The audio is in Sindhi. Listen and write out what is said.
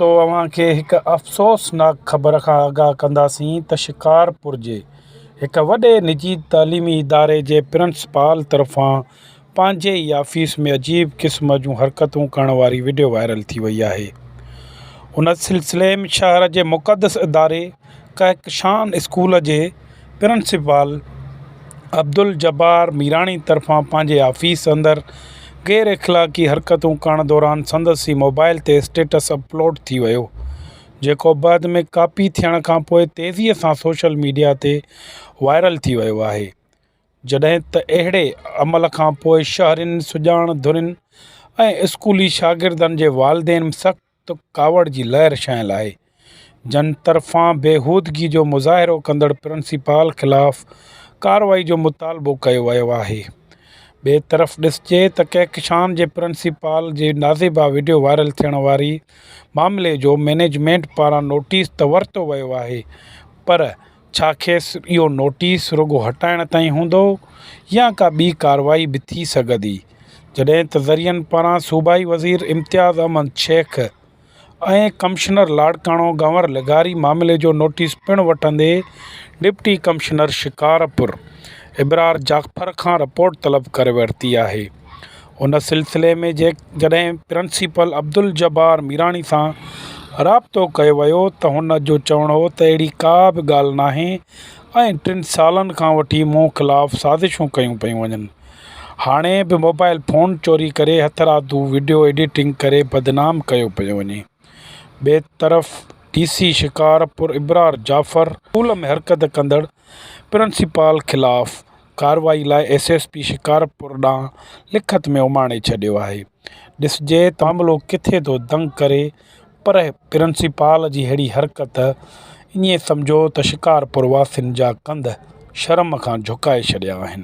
تو اوهان کي هڪ افسوسناڪ خبر کان آگاهه ڪنداسين ته شڪارپور جي هڪ وڏي نجي تعليمي اداري جي پرنسپال طرفان پنهنجي ئي آفيس ۾ عجيب قسم جون حرڪتون ڪرڻ واري وڊيو وائرل ٿي وئي آهي ان سلسلي ۾ شهر جي مقدس اداري ڪهڪشان اسڪول جي پرنسپال عبدالجبار ميراڻي طرفان پنهنجي آفيس اندر غير اخلاقي حرڪتون ڪرڻ دوران سندس ئي موبائيل تي اسٽيٽس اپلوڊ ٿي ويو جيڪو بعد ۾ ڪاپي ٿيڻ کانپوء تيزي سان سوشل ميڊيا تي وائرل ٿي ويو آهي جڏهن ته اهڙي عمل کانپوء شهرين سڄاڻ ڌرين ۽ اسڪولي شاگردن جي والدين سخت ته ڪاوڙ جي لهر ڇانيل آهي، جن طرفان بيهودگي جو مظاهرو ڪندڙ پرنسپال خلاف ڪارروائي جو مطالبو ڪيو ويو آهي. ٻئي طرف ڏسجي ته ڪهڪشان جي پرنسپال جي نازيبا وڊيو وائرل ٿيڻ واري معاملي جو مئنيجمينٽ پاران نوٽيس ته ورتو ويو آهي پر ڇا کيس اهو نوٽيس رڳو هٽائڻ تائين هوندو يا ڪا ٻي ڪارروائي به ٿي سگهندي جڏهن ته ذريعن پاران صوبائي وزير امتياز احمد شيخ ۽ ڪمشنر لاڙڪاڻو گنور لغاري معاملي جو نوٽيس پڻ وٺندي ڊپٽي ڪمشنر شڪارپور ابرار جعفر کان رپورٽ طلب ڪري ورتي آهي ان سلسلي ۾ جيڪڏهن پرنسپل عبدالجبار ميراڻي سان رابطو ڪيو ويو ته هن جو چوڻ هو ته اهڙي ڪا به ڳالهه ناهي ۽ ٽن سالن کان وٺي مون خلاف سازشون ڪيون پيون وڃن. هاڻي به موبائل فون چوري ڪري هٿرادو وڊيو ايڊيٽنگ ڪري بدنام ڪيو پيو وڃي. ٻئي طرف D C Shikarpur Abrar Jafar school ۾ حرڪت ڪندڙ پرنسپال خلاف ڪارروائي لاء ايس ايس پي شڪارپور ڏانهن لکت ۾ اماڻي ڇڏيو آهي. ڏسجي ته معاملو ڪٿي ٿو دنگ ڪري پر پرنسپال جي اهڙي حرڪت ائين سمجهو ته شڪارپور واسين جا ڪنڌ شرم کان جهڪائي ڇڏيا آهن.